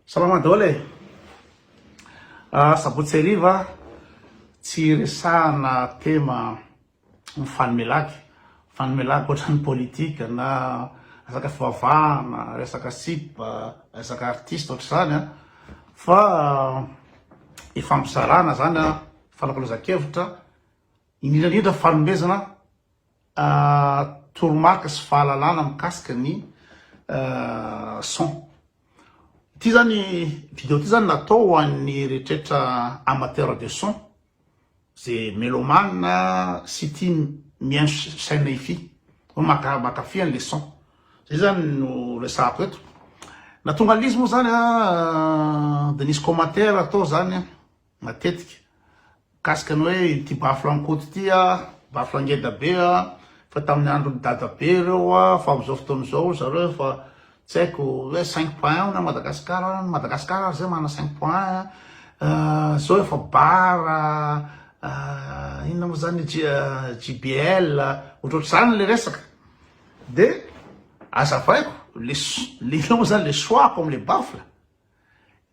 Salama daholo e! Sabotsy hariva tsy resahana tema mifanome lagy, mifanome lagy ohatran'ny politika na resaka fivavahana, resaka sipa, resaka artista ohatr'izany an! fa ifampizarana zany an, fanakalozan-kevitra, indrindra indrindra fanomezana. toromarika sy fahalalana mikasika ny son. Ity zany vidéo ity zany natao ho an'ny rehetra amateur de son ze melomane sy tia mihaino chaîne hifi hoe maka mankafy an'le son zay zany no resahako eto na tonga an'izy moa zany de nisy commentaire atao zany matetika mikasika ny hoe ity baflankoto ity a, baflangeda be a, fa tamin'ny andron'i dadabe ireo a, fa amin'izao fotoana izao ry zareo efa tsy haiko hoe cinq point un hono à Madagascar a, ny Madagascar ary zay manana cinq point un a, izao efa bar a, inona moa zany JBL a, ohatrohatr'izany le resaka, dia azavaiko le inona moa zany le choix-ko am'le bafla.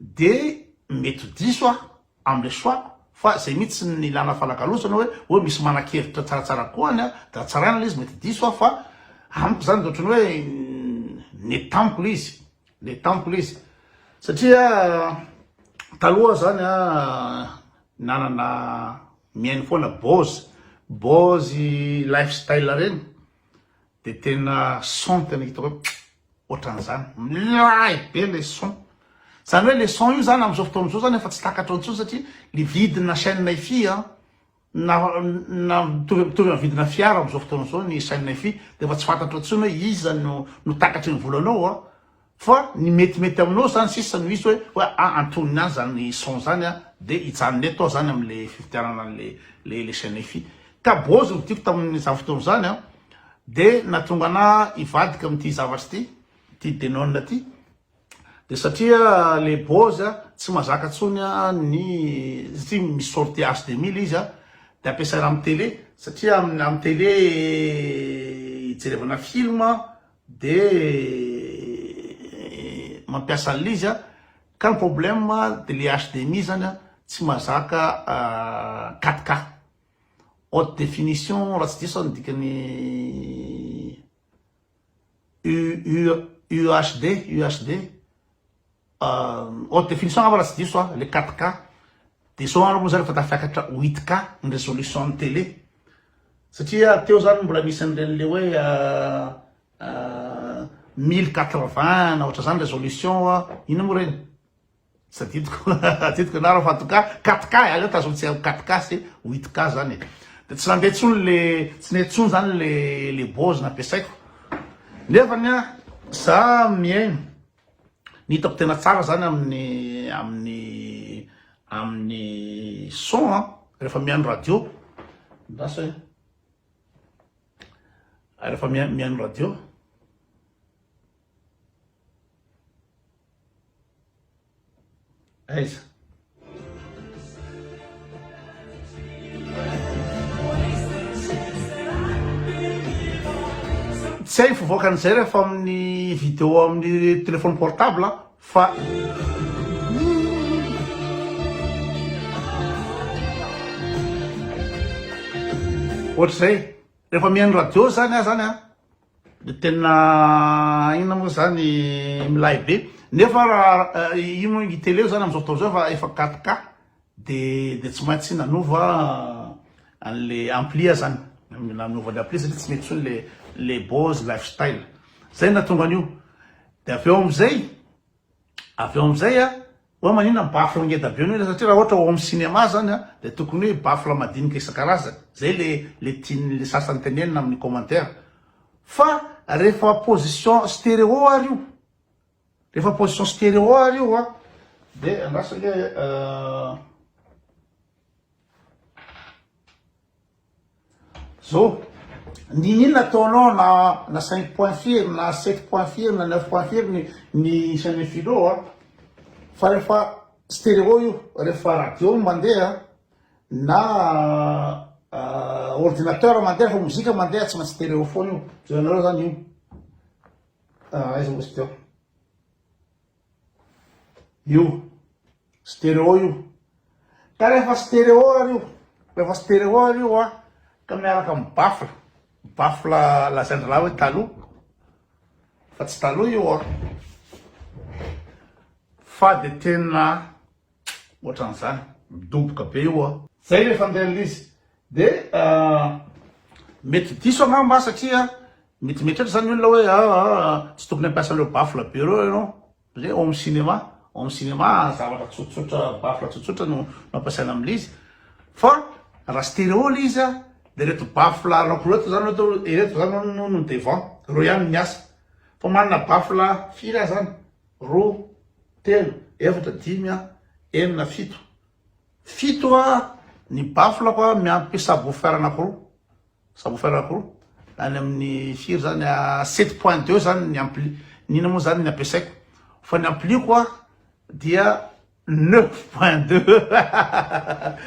Dia mety ho diso aho amin'ilay choix-ko, fa izay mihitsy no nilana fanakalozana hoe hoe misy manan-kevitra tsaratsara kokoa any dia hatsaraina ilay izy, mety diso aho fa amiko izany dia ohatran'ny hoe n'est tamiko ilay izy, n'est tamiko ilay izy. Satria taloha izany nanana mihaino foana Boz, Boz lifestyle ireny dia tena son tena hitako hoe. Ohatran'izany. Milay be le son. Zany hoe le son io zany am'zao fotoana zao zany efa tsy takatra intsony satria le vidina chaîne hifi an, na na mitovy mitovy amin'ny vidina fiara am'zao fotoana zao ny chaîne hifi de efa tsy fantatro intsony hoe iza no no takatry ny volanao an, fa ny metimety aminao zany sisa no hisy hoe hoe ah antonony any zany son zany an de hijanona eto aho zany am'le fividianana an'le le le chaîne hifi. Ka bôzy no vidiko tamin'izany fotoana izany an. Dia nahatonga anà hivadika amin'ity zavatra ity, ity Denon ity, dia satria le Boaz tsy mazaka intsony ny satria misy sortie HDMI le izy a, dia ampiasaina amin'ny télé, satria amin'ny télé hijerevana film dia mampiasa an'ilay izy a, ka ny problème dia le HDMI zany a tsy mazaka 4K, Haute définition raha tsy diso aho ny dikany UHD, UHD, haute définition angamba raha tsy diso aho, le 4K, de zao angamba moa zany efa tafiakatra 8K ny résolution ny télé, satria teo zany mbola misy an'ireny le hoe 1080 na ohatr'izany résolution, inona moa ireny? Tsy adidiko, adidiko ianareo fa en tout cas katka e, aleo tazony tsy haiko katka sy witka zany e. De tsy nandeha tsony le, tsy nety tsony zany le le bose nampiasaiko. Nefany a, za mihaino, ny hitako tena tsara zany amin'ny amin'ny amin'ny son a, rehefa mihaino radio, andraso e, rehefa mihaino radio. Aiza? Tsy hay ny fivoakan'izay rehefa amin'ny vidéo amin'ny téléphone portable fa ohatr'izay rehefa mihaino radio zany aho zany an, Dia tena aina moa izany milay be. Nefa raha io moa i tele izany amin'izao fotoana izao efa efa 4K dia dia tsy maintsy nanova an'ilay ampli aho izany. Nanova ilay ampli satria tsy mety intsony ilay ilay Bose Lifestyle. Izay no nahatonga an'io. Dia avy eo amin'izay. avy eo amizay a oa manina ny baffle ngeda be noho satria raha ohatra ao am cinéma zany a de tokony hoe baffle madinika isan-karazany zay le le tiany le sasany tenenina aminy commentaire fa rehefa position stereo ary io rehefa position stereo ary io a de andraso ange Zo, Ninin ataonao na na cinq points firy na sept points firy na neuf points firy ny ny isan'ny philo a? Fa rehefa stéréo io, rehefa radio no mandeha na ordinateur mandeha, rehefa mozika mandeha tsy maintsy stéréo foana io. Zo ianareo zany io aiza ozy teo. Io. Stereo io. Ka rehefa stereo ary io. Rehefa stereo ary io a. Ka miaraka amin'ny baffle. Baffle lazain-drahalahy hoe taloha. Fa tsy taloha io a. Fa dia tena Ohatran'izany. Midoboka be io a. Zay rehefa andeha ny lise. Dia mety diso angamba satria mety mieritreritra izany ny olona hoe aa tsy tokony hampiasa an'ireo baffle be ireo ianao satria home cinéma, home cinéma zavatra tsotsotra, baffle tsotsotra no ampiasaina amin'ny lise. Fa raha stéréo ilay izy dia ireto baffle anaky roa ireto izany ohatra hoe ireto izany no devant, ireo ihany no miasa. Fa manana baffle firy aza any? roa, telo, efatra, dimy, enina, fito. Fito ny baflako miampy subwoofer anankiroa. Subwoofer anankiroa. Any amin'ny firy zany a 7.2 zany ny ampli. Nina moa zany ny ampiasaiko. Fa ny ampliako a dia 9.2.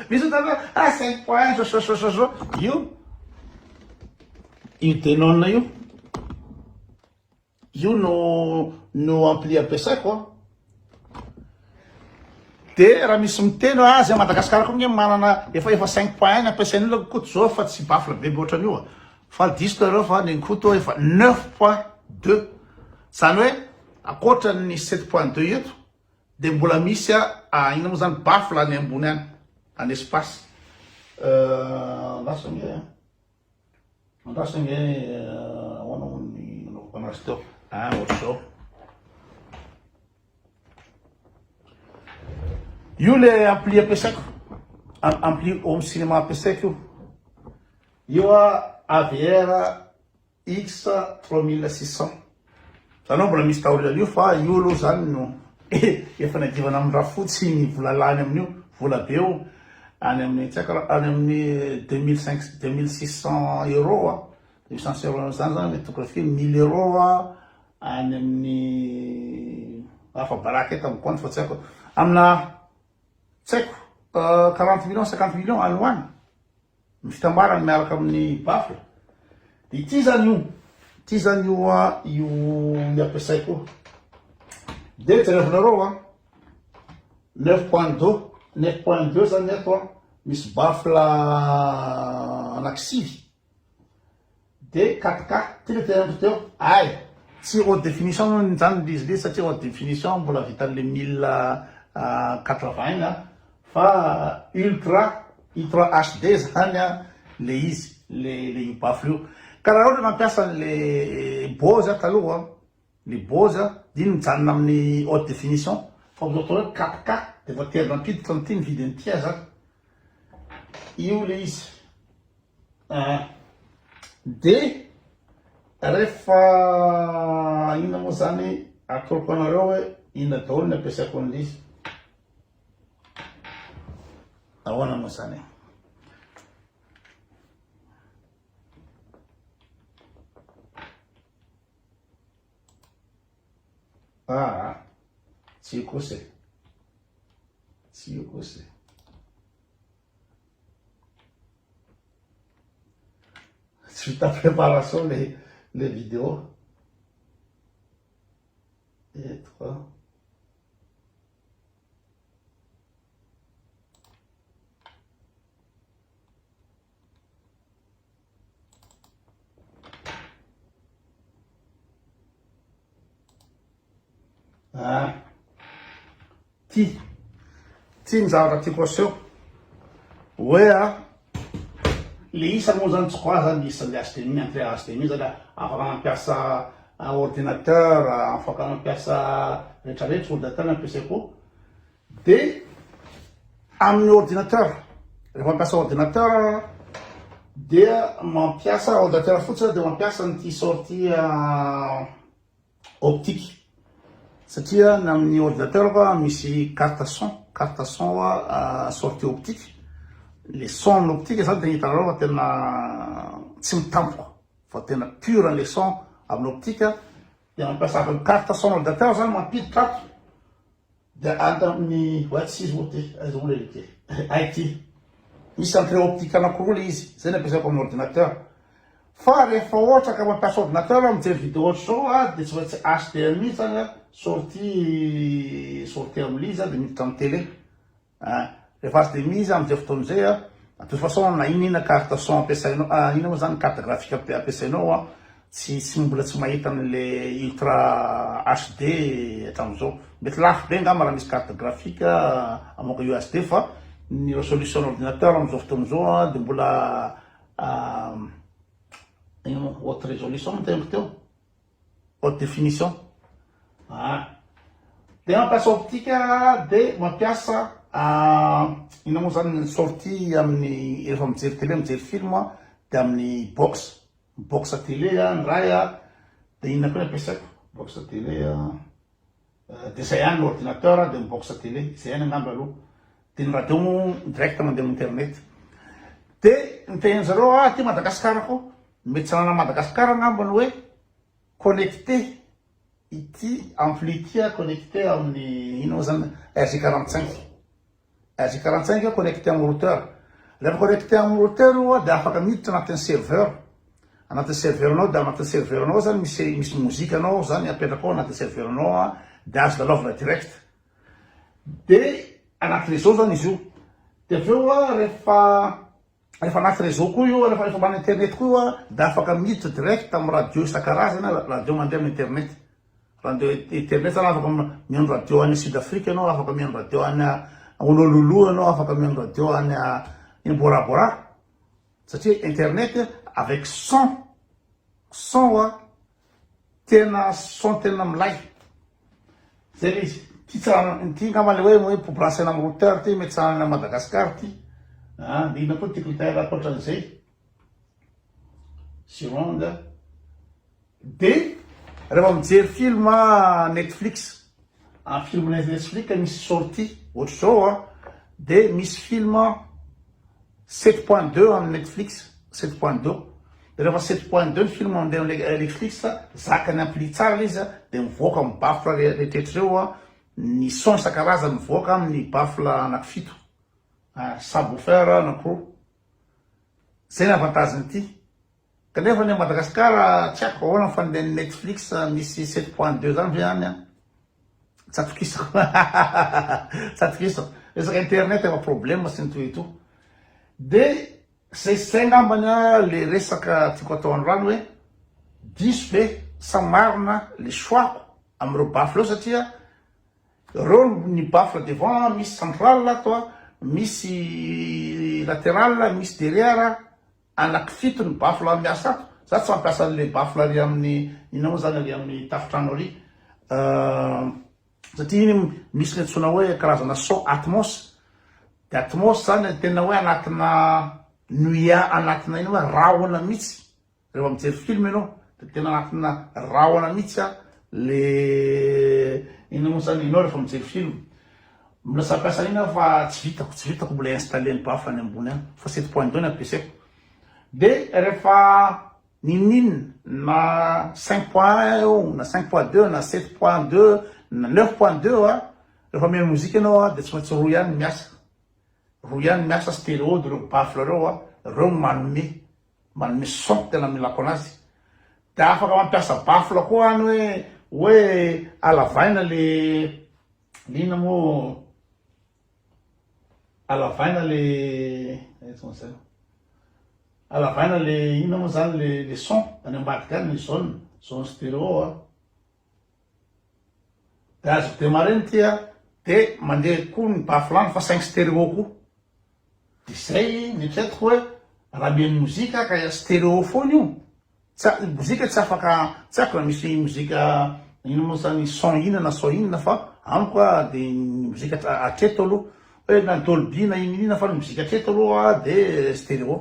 Misy tana ah 5.1 so so so so so. Io io Denon io Io no no ampli ampiasaiko an. De raha misy miteny hoe azy Madagascar koa nge manana efa efa cinq point un ny ampiasain'ny olona koa koto zao fa tsy baffle be be ohatran'io an. Faly diso nareo fa ny an'i koto efa neuf point deux zany hoe akoatra ny sept point deux eto de mbola misy an inona moa zany baffle any ambony any any espace lasa nge. Mandatsy ange ahoana moa ny nanaovako anazy teo. Ah, ohatr'izao. Io le ampli ampiasaiko. Ampli home cinéma ampiasaiko io. Io a AVR X 3600. Ianao mbola misy taole an'io fa io aloha zany no efa niadivana amin'ny rafotsy ny vola lany amin'io, vola be io any amin'ny tsy haiko any amin'ny deux mille cinq deux mille six cents euros a, deux mille six cents euros zany zany mety tokony firy, mille euros a any amin'ny afa baraka eto amin'ny compte fa tsy haiko, amina tsy haiko quarante millions, cinquante millions any ho any. Ny fitambarany miaraka amin'ny baffle. Ity izany io. Ity izany io a, io ny ampiasaiko io. Dia jerevinareo a, 9.2, 9.2 izany eto a, misy baffle anaky sivy. DKK, ty le tena andro teo ay! Tsy haute définition moa izany lzy lzy satria haute définition mbola vitan'le mille quatre vingt a! fa ultra i trois HD zany a le izy le io baffle io! ka raha ohatra mampiasa an'le bose aho taloha Ny Bose dia mijanona amin'ny haute définition fa ohatry atao hoe 4K dia efa tery nampiditra an'ity ny vidiny ity aza ary io ilay izy aa dia rehefa inona moa izany atoroko anareo hoe inona daholo ny ampiasaiko an'ilay izy ahoana moa izany e Aa tsy io kosa e. Tsy io kosa e. Tsy vita préparation le le vidéo. Et toi Ah. Ty. Ty ny zavatra tiako aseho. Hoe a, ah, le isa moa zany tsy koa zany isa le HDMI, entrée HDMI zany afaka mampiasa ah, ordinateur, ah, afaka mampiasa rehetrarehetra, ordinateur ampiasaiko. Dia amin'ny ordinateur, rehefa mampiasa ordinateur aho dia mampiasa ordinateur fotsiny aho dia mampiasa an'ity sortie optique satria ny amin'ny ordinateur fa misy carte son, carte son sortie optique, le son amin'ny optique zany dia hitanareo fa tena tsy mitampoka fa tena pure le son amin'ny optique dia mampiasa carte son ordinateur zany mampiditra ato Dia any tamin'ny White Seas moa ity, aiza moa ilay izy ity? IT. Misy centre optique anankiroa ilay izy, izay no ampiasaiko amin'ny ordinateur. Fa rehefa ohatra ka mampiasa ordinateur aho mijery vidéo ohatr'izao a, dia tsy maintsy HDMI izany a, sortie sortie amin'ilay izy a, dia miditra amin'ny télé. Ah, rehefa HDMI izy amin'izay fotoana izay a, de toute façon na inona na inona carte son ampiasainao, ah, inona moa izany carte graphique ampiasainao a, Tsy tsy mbola tsy mahita anle ultra HD hatramzao. Mety lafo be angamba raha misy carte graphique amoaka UHD fa ny resolution ordinateur amzao fotoana zao a de mbola ino moa haute resolution moa teniko teo? haute definition a. De mampiasa optique de mampiasa ino moa zany ny sortie aminy rehefa mijery tele mijery film de aminy box Box à télé a, ny ray a, dia inona koa ny ampiasaiko? Box à télé a, dia izay ihany, ordinateur a, dia ny box à télé, izay ihany angamba aloha, dia ny radio moa direct mandeha amin'ny internet. Dia ny tenenin-dry zareo hoe aty Madagasikara koa, mety tsy ananan'i Madagasikara angamba ny hoe connecté, ity ampli ity a connecté amin'ny inona moa izany, RG quarante cinq. RJ quarante cinq connecté amin'ny routeur. Rehefa connecté amin'ny routeur oa dia afaka miditra anatin'ny serveur. Anatin'ny serveur anao dia anatin'ny serveur anao zany misy misy mozika anao ao zany apetraka ao anatin'ny serveur anao a dia azo lalaovina direct. Dia anaty réseau zany izy io. Dia avy eo a rehefa Rehefa anaty réseau koa io, rehefa ambany internet koa io dia afaka miditra direct amin'ny radio isan-karazany, radio mandeha amin'ny internet. Radio internet zany afaka mihaino radio any Sud Afrique ianao, afaka mihaino radio any Honolulu ianao, afaka mihaino radio any eny Bora Bora satria internet avec son, son a. Tena son tena milay. Zay le izy. Ty tsy raha ty angamba le hoe hoe brancher am routeur ty mety tsy raha any Madagascar ty. Ah de inona koa teclitaire ankoatran'izay. Surround. Dia rehefa mijery film Netflix. Am film net netflix misy sorti ohatry zao an de misy film sept point deux am netflix sept point deux de refa sept point deux ny film mande am netflix zakany ampli tsara le izy an de mivoaka am baffle rehetra reo an ny son isan-karazany mivoaka am ny baffle anaky fito subwoofer anaky roa zay ny avantage ny ty. Kanefa any Madagascar tsy haiko ahoana fa ny Netflix misy sept point deux zany ve any an? Tsy atokisako. Tsy atokisako. Resaka internet efa problème sy ny toy ito. De zay sy zay ngambany le resaka tiako atao an'rano hoe diso ve sa marina le choix-ko amin'ireo baffle eo satria reo ny baffle devant misy central ato an, misy lateral, misy derrière. anaky fito ny baffle ary miasa ato, za tsy mampiasa anle baffle ary aminy inona moa zany ary aminy tafotrano ary satria iny misy le antsoina hoe karazana son atmos de atmos zany tena hoe anatina nuea anatina ina moa rahona mitsy rehefa mijery film enao de tena anatina rahona mitsy a le inona moa zany enao rehefa mijery film Mbola samy mpiasa an'iny aho fa tsy vitako, tsy vitako mbola installer ny bafo any ambony any fa set point deux no ampiasaiko. De rehefa ninin na cinq point un eo na cinq point deux na sept point deux na neuf point deux eo a, rehefa mihaino mozika ianao a de tsy maintsy roa ihany no miasa, roa ihany no miasa stereo de reo baffle reo a, reo no manome, manome son tena milako anazy. De afaka mampiasa baffle koa any hoe hoe halavaina le Liana moa alavaina le alavaina le inona moa zany le le son any ambadika any ny zone zone stéréo a de azo démarrer ny tia de mandeha koa ny bafilany fa saingy stéréo koa Dia izay no eritreretiko hoe raha mihaino mozika ka stéréo foana io, tsy ny mozika tsy afaka, tsy haiko raha misy mozika inona moa izany son inona na son inona fa amiko a dia ny mozika hatreto aloha hoe na dolby na inona inona fa ny mozika hatreto aloha dia stéréo.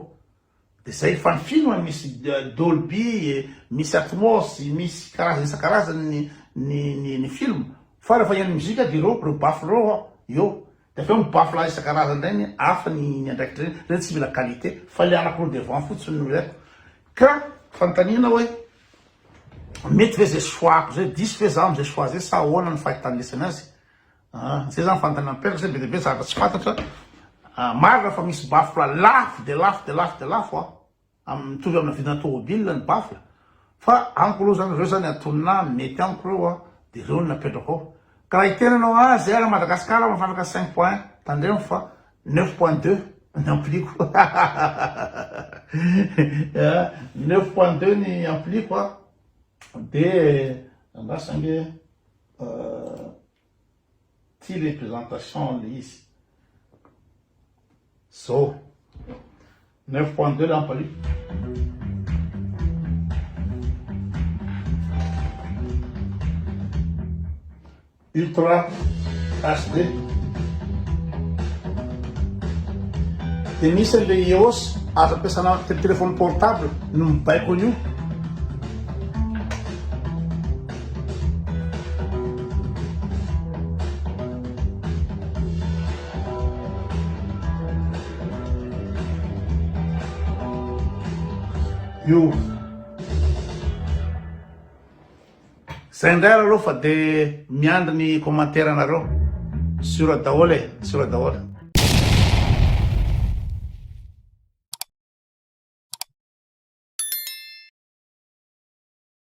Izay fanfino an, misy Dolby, misy Atmos, misy karazana isan-karazany ny ny ny film, fa rehefa hihaino mozika dia ireo ireo baffle ireo an, eo, dia avy eo ny baffle isan-karazany indray ny hafa ny ny andraikitra ireny, ireny tsy mila qualité fa ilay anankiroa devant fotsiny no ilaiko, ka fanontaniana hoe mety ve izay choix-ko izay, diso ve za amin'izay choix izay sa ahoana ny fahitany lesy an'azy? Ah zay zany fantany mampipetraka satria be dia be zavatra tsy fantatra ah marina fa misy baffle lafo dia lafo dia lafo dia lafo ah am mitovy amina vidina tômôbila ny baffle fa amiko aloha zany reo zany atonona mety amiko reo ah dia reo no napetrako ao ka raha hiteny anao ah zay ary Madagascar mafandraka cinq point un tandremo fa neuf point deux ny ampliko ah neuf point deux ny ampliko ah dia andraso ange. Ity le présentation le izy zao 9.2 lampa io. Ultra HD dia misy an'ilay EOS azo ampiasana téléphone portable no mibaiko an'io Io. Zay indray ary aloha fa dia miandry ny commentaire anareo. Sur daholo e, sur daholo.